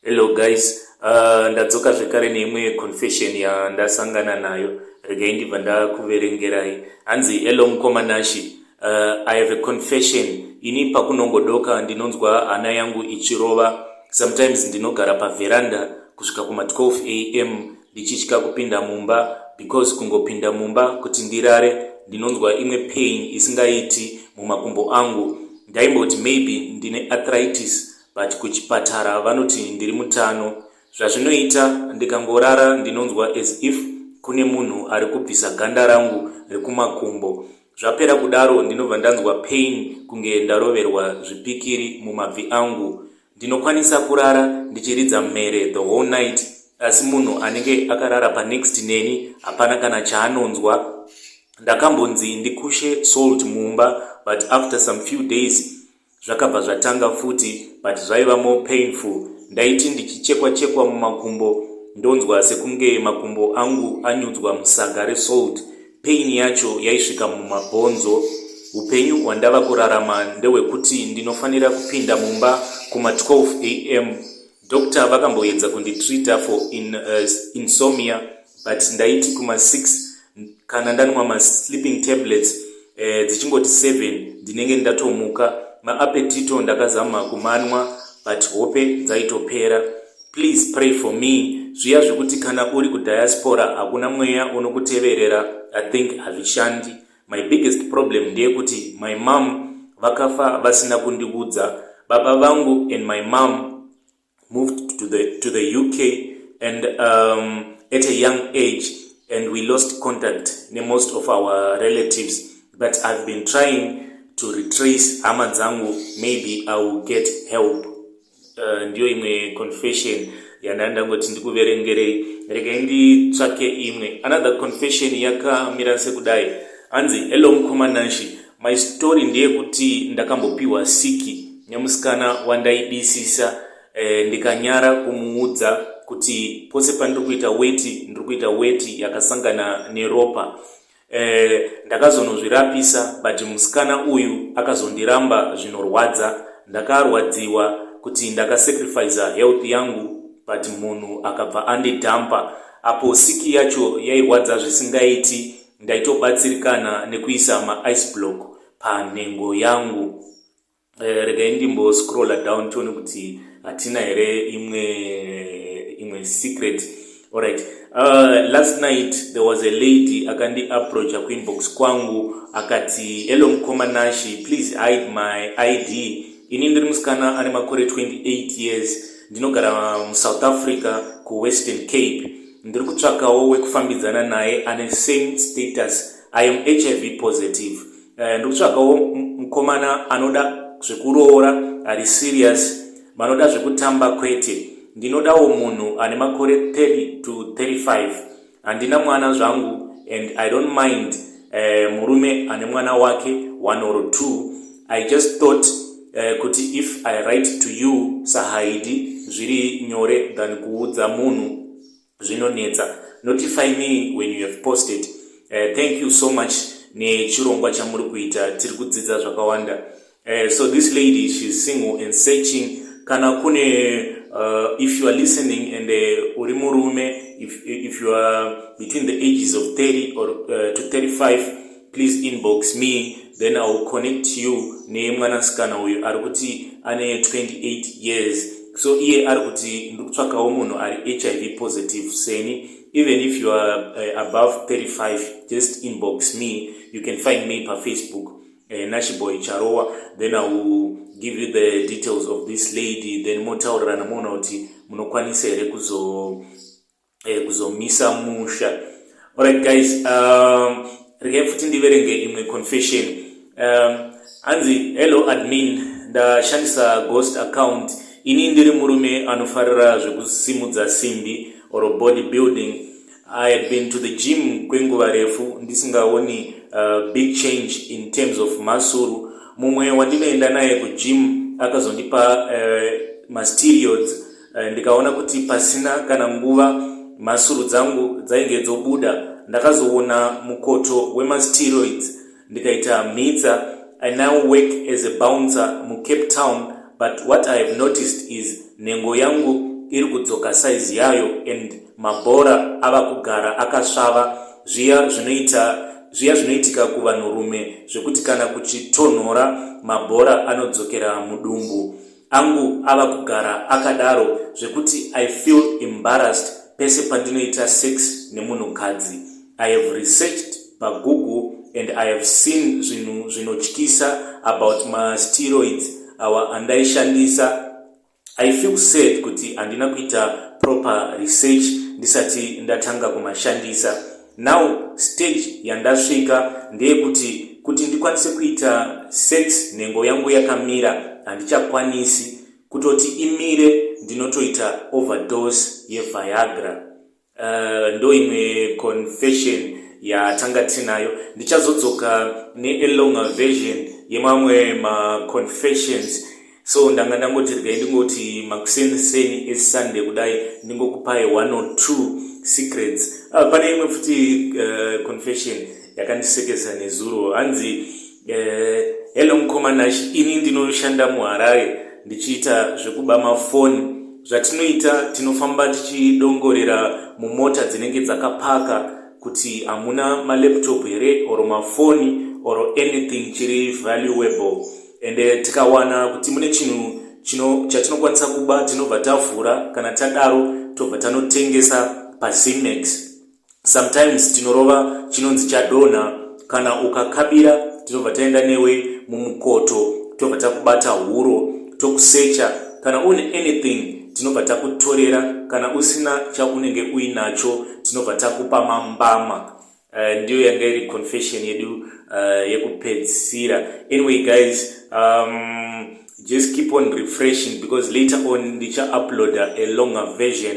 Hello guys, uh, ndadzoka zvekare neimwe confession yandasangana nayo regai ndibva ndakuverengerai. Hanzi hello mukoma Nashi, uh, I have a confession. Ini pakunongodoka ndinonzwa hana yangu ichirova. Sometimes ndinogara paveranda kusvika kuma 12 am ndichitya kupinda mumba because kungopinda mumba kuti ndirare ndinonzwa imwe pain isingaiti mumakumbo angu. Ndaimboti maybe ndine arthritis but kuchipatara vanoti ndiri mutano zvazvinoita ndikangorara ndinonzwa as if kune munhu ari kubvisa ganda rangu rekumakumbo zvapera kudaro ndinobva ndanzwa pain kunge ndaroverwa zvipikiri mumabvi angu ndinokwanisa kurara ndichiridza mhere the whole night asi munhu anenge akarara panext neni hapana kana chaanonzwa ndakambonzi ndikushe salt mumba but after some few days Zvakabva zvatanga futi but zvaiva more painful. Ndaiti ndichichekwa chekwa mumakumbo ndonzwa sekunge makumbo angu anyudzwa musaga resalt. Pain yacho yaisvika mumabhonzo. Hupenyu hwandava kurarama ndehwekuti ndinofanira kupinda mumba kuma 12 am. Doctor vakamboedza kunditreater for in, uh, insomnia but ndaiti kuma 6 kana ndanwa masleeping tablets eh, dzichingoti seven ndinenge ndatomuka maapetito ndakazama kumanwa but hope dzaitopera please pray for me zviya zvekuti kana uri kudiaspora hakuna mweya unokuteverera i think hazvishandi my biggest problem ndeyekuti my mom vakafa vasina kundiudza baba vangu and my mom moved to the, to the UK and um, at a young age and we lost contact ne most of our relatives but I've been trying to retrace hama dzangu maybe I will get help uh, ndiyo imwe confession yandanga ndangoti ndikuverengerei regai nditsvake imwe another confession yakamira sekudai hanzi hello mukoma nanshi My story ndeyekuti ndakambopiwa siki nemusikana wandaidisisa eh, ndikanyara kumuudza kuti pose pandiri kuita weti ndiri kuita weti yakasangana neropa eh, ndakazonozvirapisa but musikana uyu akazondiramba zvinorwadza ndakarwadziwa kuti ndakasacrifica health yangu but munhu akabva andidhampa apo siki yacho yairwadza zvisingaiti ndaitobatsirikana nekuisa ma ice block panhengo yangu eh, regai ndimbo scroller down tione kuti hatina here imwe imwe secret alright uh, last night there was a lady akandi approacha kuinbox kwangu akati hello mukoma nashi please hide my id ini ndiri musikana ane makore 28 years ndinogara musouth africa kuwestern cape Ndiri kutsvakawo wekufambidzana naye ane same status. I am HIV positive. Uh, ndiri kutsvakawo mkomana anoda zvekuroora ari serious vanoda zvekutamba kwete. Ndinodawo munhu ane makore 30 to 35. Handina mwana zvangu and I don't mind eh, murume ane mwana wake one or two i just thought eh, kuti if i write to you sahaidi zviri nyore than kuudza munhu zvinonetsa notify me when you have posted eh, thank you so much nechirongwa chamuri kuita tiri kudzidza zvakawanda Uh, so this lady she's single and searching kana kune uh, if you are listening and uh, uri murume if, if you are between the ages of 30 or uh, to 35 please inbox me then i will connect you nemwanasikana uyu ari kuti ane 28 years so iye ari kuti ndi kutsvakawo munhu ari hiv positive seni even if you are uh, above 35 just inbox me you can find me pafacebook eh, nachiboy charowa then i will give you the details of this lady then motaurirana moona kuti munokwanisa here kuzo eh, kuzomisa musha alright guys um, regai futi ndiverenge imwe confession um, hanzi hello admin ndashandisa ghost account ini ndiri murume anofarira zvekusimudza simbi or body building I had been to the gym kwenguva refu ndisingaoni uh, big change in terms of masuru. Mumwe wandinoenda naye kugym akazondipa uh, mastereods uh, ndikaona kuti pasina kana nguva masuru dzangu dzainge dzobuda. Ndakazoona mukoto wemasteroids ndikaita mhitsa. I now work as a bouncer muCape Town but what I have noticed is nhengo yangu iri kudzoka size yayo and Mabhora ava kugara akasvava zviya zvinoita zviya zvinoitika kuvanhurume zvekuti kana kuchitonhora mabhora anodzokera mudumbu. Angu ava kugara akadaro zvekuti I feel embarrassed pese pandinoita sex nemunhukadzi. I have researched paGoogle and I have seen zvinhu zvinotyisa about masteroids awa andaishandisa I feel sad kuti handina kuita proper research ndisati ndatanga kumashandisa. Now stage yandasvika ndeyekuti kuti ndikwanise kuita sex nhengo yangu yakamira handichakwanisi kutoti imire ndinotoita overdose yeviagra. Uh, ndo imwe confession yatanga tinayo ndichazodzoka nealonger version yemamwe maconfessions so ndanga ndangoti regai ndingoti makuseni seni esunday kudai ndingokupai one or two secrets uh, pane imwe futi uh, confession yakandisekesa nezuro hanzi Eh, hello mukoma Nash, ini ndinoshanda muHarare ndichiita zvekuba mafoni. Zvatinoita tinofamba tichidongorera mumota dzinenge dzakapaka kuti hamuna malaptop here or mafoni or anything chiri valuable and eh, tikawana kuti mune chinhu chino chatinokwanisa kuba tinobva tavhura kana tadaro tobva tanotengesa pazimex sometimes tinorova chinonzi chadonha kana ukakabira tinobva taenda newe mumukoto tobva takubata huro tokusecha kana une anything tinobva takutorera kana usina chaunenge uinacho tinobva takupa mambama uh, ndiyo yanga iri confession yedu uh, yekupedzisira anyway guys um, just keep on refreshing because later on ndicha uploader a longer version